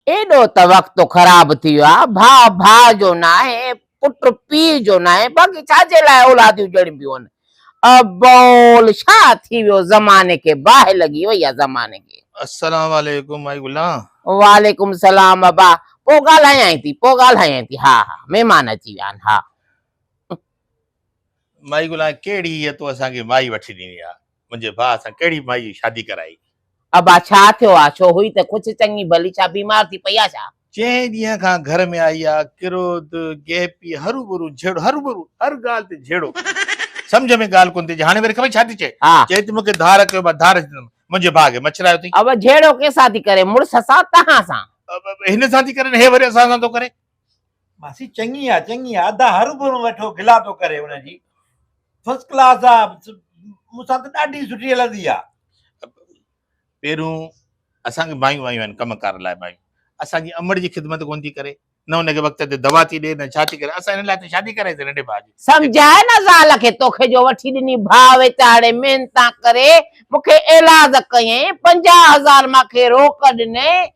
ايڏو ته وقت خراب ٿي ويو آ، ڀاء ڀاء جو ناهي، پٽ پيء جو ناهي، باقي ڇا جي لاء اولاديون ڄڻبيون هن. ابول ڇا ٿي ويو زماني کي باهه لڳي وئي آ زماني کي. السلام عليڪم مائي گلان. وعليڪم السلام ابا پوء ڳالهايانء ٿي پوء ڳالهايانء ٿي ها ها مهمان اچي ويا آهن ها. مائي گلا ڪهڙي هيء تون اسان کي مائي وٺي ڏني آ منهنجي ڀاء سان ڪهڙي مائي جي شادي ڪرائي. ابا ڇا ٿيو آ ڇو هئي ته ڪڇ چڱي ڀلي ڇا بيمار ٿي پئي آ ڇا. چئين ڏينهن کان گهر ۾ آئي آ ڪروڌ گيپي هروڀرو جهيڙو هروڀرو هر ڳالهه تي جهيڙو سمجهه ۾ ڳالهه ڪونه ٿي اچي هاڻي وري خبر ڇا ٿي چئي ها. چئي ٿي مون کي ڌار ڪيو مان ڌار ڏنم منهنجي ڀاء کي مڇرايو اٿئي. ابا جهيڙو ڪنهن سان ٿي ڪري مڙس سان تهان سان. هن سان ٿي ڪري نه هي وري اسان سان ٿو ڪري. ماسي چڱي آ چڱي آ ادا هر گهرون ويٺو گلا ٿو ڪري ان جي فرسٽ ڪلاس آ مون سان ته ڏاڍي سٺي هلندي آ پهريون اسان کي مايون آيون آهن ڪم ڪار لاء مايون اسان جي امڙ جي خدمت ڪون ٿي ڪري نه ان کي وقت تي دوا ٿي ڏي نه ڇا ٿي ڪري اسان ان لاء ته شادي ڪرائي سي ننڍي ڀاء جي سمجهاء نه زال کي توکي جو وٺي ڏني ڀاء ويچاري محنتان ڪري مونکي ايلاز ڪيئين پنجاهه هزار مانکي روڪ ڏنئي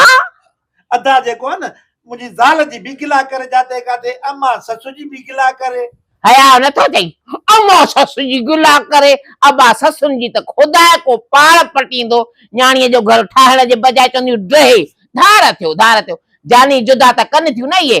ها ادا جيڪو آ نه منهنجي زال جي به گلا ڪري جاتي ڪاتي اما سس جي به گلا ڪري. حياء نه ٿو اچئي اما سس جي گلا ڪري ابا سسن جي ته خدا ڪو پاڙ پٽيندو نياڻي جو گهر ٺاهڻ جي بجاء چونديون ڊهي ڌار ٿيو ڌار ٿيو جاني جدا ته ڪن ٿيون نه اهي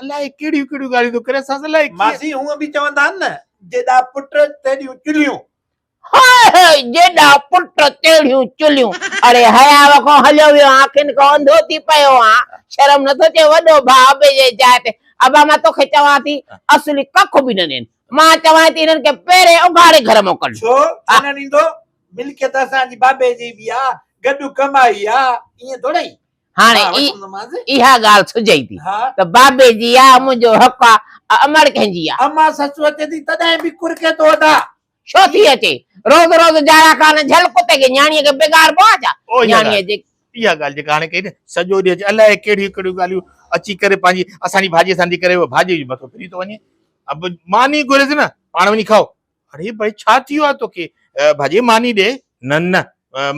الاء ڪهڙيون ڪهڙيون ڳالهيون ٿو ڪرين ساز الاء ڪيئن ماسي هونء به چوندا آهن نه جيڏا پٽ تيڏيون چلهيون. هاء هاء جيڏا پٽ تيڙهيون چلهيون اڙي حياء کان هليو ويو آن اکين کان انڌو ٿي پيو آن شرم نه ٿو اچي وڏو ڀاء ابي جي جاء تي ابا مان توکي چوان ٿي اصلي ڪک به نه ڏين مان چوان ٿي هنن کي پهرين اگهاڙي گهر مان ڪڍ ڇو ڇو نه ڏيندو ملڪيت اسان جي بابي جي به آ گڏ ڪمائي آ ائين ٿورئي هاڻي اها ڳالهه سجهي ٿي ته بابي جي آ، منهنجو حق آ، امڙ ڪنهن جي آ؟ امان سچو اچي ٿي تڏهن به ڪرڪي ٿو ادا. ڇو ٿي اچي؟ روز روز جاڙا ڪانه جهل ڪتي کي نياڻيء کي بگاڙبو آ ڇا؟ نياڻيء جي. اها ڳالهه جيڪا هاڻي ڪئي نه، سڄو ڏينهن اچي الائي ڪهڙيون ڪهڙيون ڳالهيون اچي ڪري پنهنجي اسان جي ڀاڄيء سان ٿي ڪري، اهو ڀاڄيء جو مٿو ڦري ٿو وڃي. مان ني گهريس نه، پاڻ وڃي کائو. اڙي ڀائي ڇا ٿي ويو آهي توکي ڀاڄي ماني ڏي. نه نه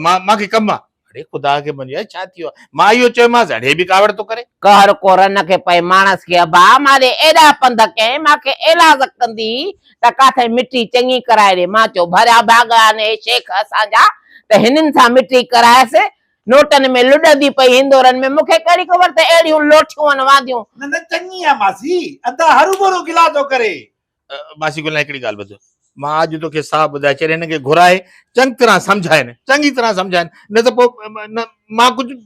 مان مان کي ڪم آ. اڙي خدا کي مڃ ڀائي ڇا ٿي ويو آهي مان اهو چيومانس اڙي به ڪاوڙ ٿو ڪري. قهر ڪو رن کي پئي ماڻس کي ابا مان ڏي ايڏا پنڌ ڪئين مان کي ايلاز ڪندي ته ڪاٿئي مٺي چڱي ڪرائي ڏي مان چيو ڀريا ڀاڳ آهن اهي شيخ اسان جا ته هنن سان مٺي ڪرايس نوٽن ۾ لڏندي پئي هندورن ۾ مون کي ڪهڙي خبر ته اهڙيون لوٺيون هن وانديون. نه نه چڱي آ ماسي ادا هروڀرو گلا ٿو ڪري ماسي گلان هڪڙي ڳالهه ٻڌ مان اڄ توکي صاف ٻڌائي ڇڏ هن کي گهرائي چڱ طرح سمجهائين چڱي طرح سمجهائين نه ته پوء مان ڪجهه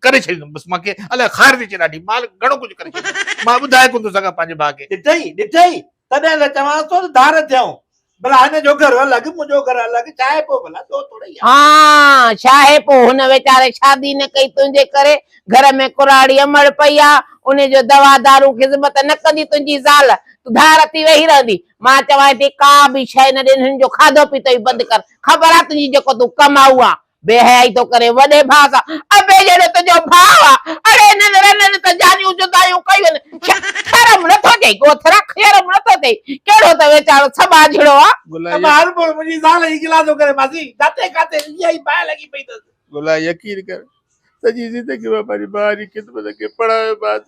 ڪري ڇڏيندم بس مان کي الاء خار ٿي اچي ڏاڍي مان گهڻو ڪجهه ڪري ڇڏيندم مان ٻڌائي ڪونه ٿو سگهان پنهنجي ڀاء کي ڏٺئي ڏٺئي تڏهن ته چوانس ٿو ته ڌار ٿيون ڀلا هن جو گهر الڳ منهنجو گهر الڳ ڇا آهي پوء ڀلا ڏوهه توڙي آ. ها ڇا آهي پوء هن ويچاري شادي نه ڪئي تنهنجي ڪري گهر ۾ ڪراڙي امڙ پئي آ، انهي جو دوا دارون خذمت نه ڪندي تنهنجي زال، تون ڌار ٿي ويهي رهندي. مان چوانء ٿي ڪا به شيء نه ڏي هن جو کاڌو پيتو ئي بند ڪر، خبر آ تنهنجي جيڪو تون ڪمائو آ. بي حيائي ٿو ڪرين وڏي ڀاء سان، ابي جهڙو تنهنجو ڀاء آ، اڙي هنن رنن ته جانيون جدايون ڪيون ڇا شرم نه ٿو چئي ڳوٿ رک شرم نه ٿو ٿئي ڪهڙو ته ويچارو سٻاء جهڙو آ. ته مان هر ڀور منهنجي زال جي گلا ٿو ڪري ماسي، جاتي ڪاتي رڳي آهي باهه لڳي پئي اٿس. گلا يقين ڪر سڄي زندگي مان پنهنجي بهاري خدمت کي پڙهايو مانس.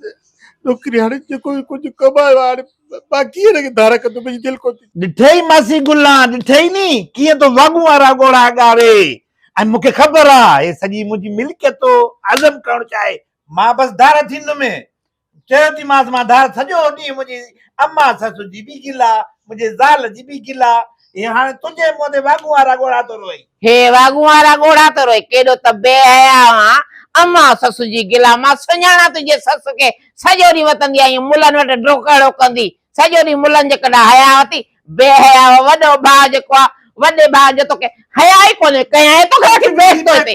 نوڪري هاڻي جيڪو به ڪجهه ڪمايو آهي، هاڻي مان ڪيئن هن کي ڌار ڪندس، منهنجي دل ڪو ٿي. ڏٺئي ماسي گلان، ڏٺئي ني، ڪيئن تو واڳون وارا ڳوڙها ڳاري. ۽ مون کي خبر آ، هي سڄي منهنجي ملڪيت تو هضم ڪرڻ چاهي. مان بس ڌار ٿيندم. چيو تي مانس مان ڌار سڄو ڏينهن منهنجي اما سس جي به گلا منهنجي زال جي به گلا هي هاڻي تنهنجي منهن تي واڳونهارا ڳوڙها ٿو روئي. هي واڳونهارا ڳوڙها ٿو روئي ڪيڏو ته بي حياء آهن اما سس جي گلا مان سڃاڻان تنهنجي سس کي سڄو ڏينهن وتندي آهين ملن وٽ ڊوڪڙو ڪندي سڄو ڏينهن ملن جي ڪنڊا حيا وتي، بي حيا وڏو ڀاء جيڪو آ، وڏي ڀاء جو توکي حيا ئي ڪونهي، ڪيائين توکي وٺي بيس توهين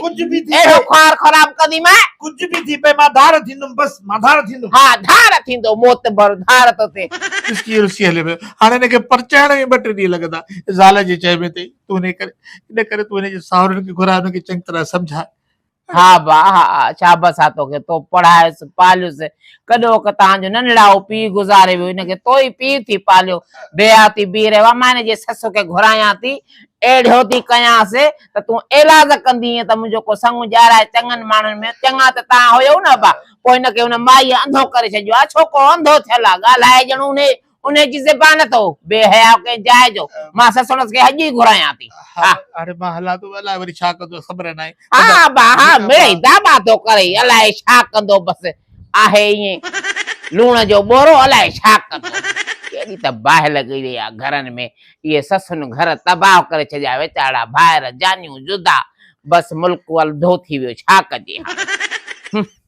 تي، اهڙو خوار خراب ڪندي مئي. ڪجهه به ٿي پئي مان ڌار ٿيندم بس مان ڌار ٿيندم. ها ڌار ٿيندو معتبر ڌار تو ٿي. رسڪي رسي هليو ويو هاڻي هن کي پرچائڻ ۾ ٻه ٽي ڏينهن لڳندا. زال جي چئي ۾ تي تون هن ڪري ان ڪري تون هن جي ساهرن کي گهراء هن کي چڱي طرح سمجهاء. ها با ها ها شابس آ توکي تو پڙهايس پاليس ڪڏو ڪه تان جو ننڙائو پي گذاري ويو هن کي تو ئي پي ٿي پاليو بيها ٿي بيهي رهيو آ مان هن جي سس کي گهرايان ٿي اهڙيو ٿي ڪيانس ته تون ايلاز ڪندينء ته منهنجو ڪو سڱ ڄارائي چڱن ماڻهن ۾ چڱا ته تان هيئو نه ابا پوء هن کي هن مائيء انڌو ڪري ڇڏيو آ ڇوڪرو انڌو ٿيل آ ڳالهائي ڄڻ انهيء ان جي زبان تھ ھو بي حياء ڪنھن جاء جو مان سسڻس کي اڄ ئي گھرايان ٿي ھا ھاڻي مان ھلان ٿو الاء وري ڇا ڪندو خبر ناھي ھا با ھا مڙئي داٻا ٿو ڪري الاء ڇا ڪندو بس آھي ائين لوڻ جو ٻورو الاء ڇا ڪندو ڪيڏي تھ باھه لڳي ويئي آھي گھرن ۾ اھي سسن گھر تباھه ڪري ڇڏيا ويچارا ڀائر جانيون جدا بس ملڪ الھندو ٿي ويو ڇا ڪجي ھاڻي